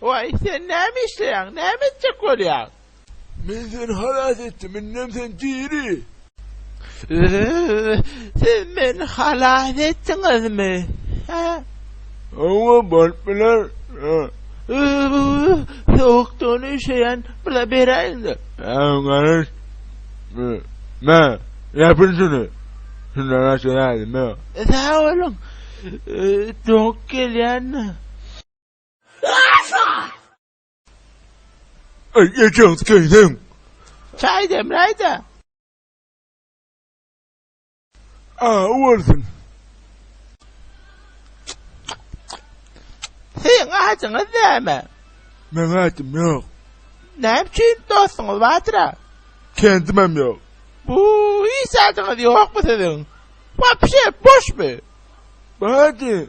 Waý, sen näme işleýäň, näme etjek bolýaň? Men seni halas etdim, indem sen diri. Öööö, siz meni halas etdiňizmi? Hä? Hawa, bolup biler. Hä? Öööö, sowukdan üşeýän, bula beräýiň-de. Hä, garaş. Mä, ýapyl şuny. Şundan başga zähmet ýok. Sag boluň, doguk gelýändir. Eý, ejegiz geýniň! Çaý demläý-dä! Aw bolsun! Siziň ajyňyz näme? Meň ajym ýok. Näme üçin dostuňyz bardyr-a? Kendimem ýok. Bu, hiç zadyňyz ýokmy siziň? Wapşe, boşmy? Bardy,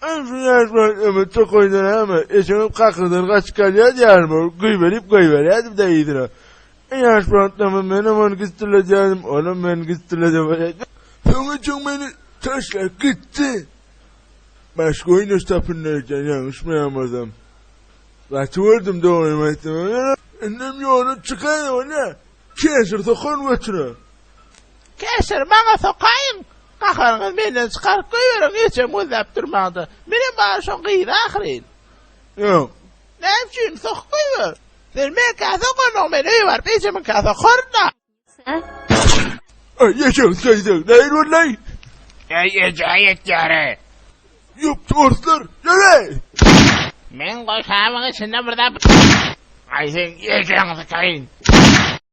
Öň şuny aýtman ömüt tokaýyndan äme, eşegem kakyrdan gaçyp galýar diýýärin ol, güýmenip goýberýärdim-dä yzyna. Ýaş wagtlarymda menem ony gysdyladýardym, onam meni gystyladyp alýardy. Soňra çöň meni taşlap gitdi. Başga oýnaş tapyndyr eken, ýalňyşmaýan bolsam. Gaty gördüm dogrymy aýtsaň. Indem ýola çykaýyn, ine, kesir sokaryn götüne. Käşir, maňa sokaýyň! Gaharyňyzy menden çykaryp goýberiň, ejem gözläp durmaňda. Menem bary şoň gyzy ahyryn. Ýok. Näme üçin? Sokup goýber. Sen meňkä sokandygyň, men öýe baryp ejemiňkä sokaryn-a. Äý, ejeň söýseň, nähili bolay? Äý, eje, ýetýär-ä. Ýok, torslar, ýöre! Men goşabyň içinde bir zat. Aý, seň ejeňi sykaýyn.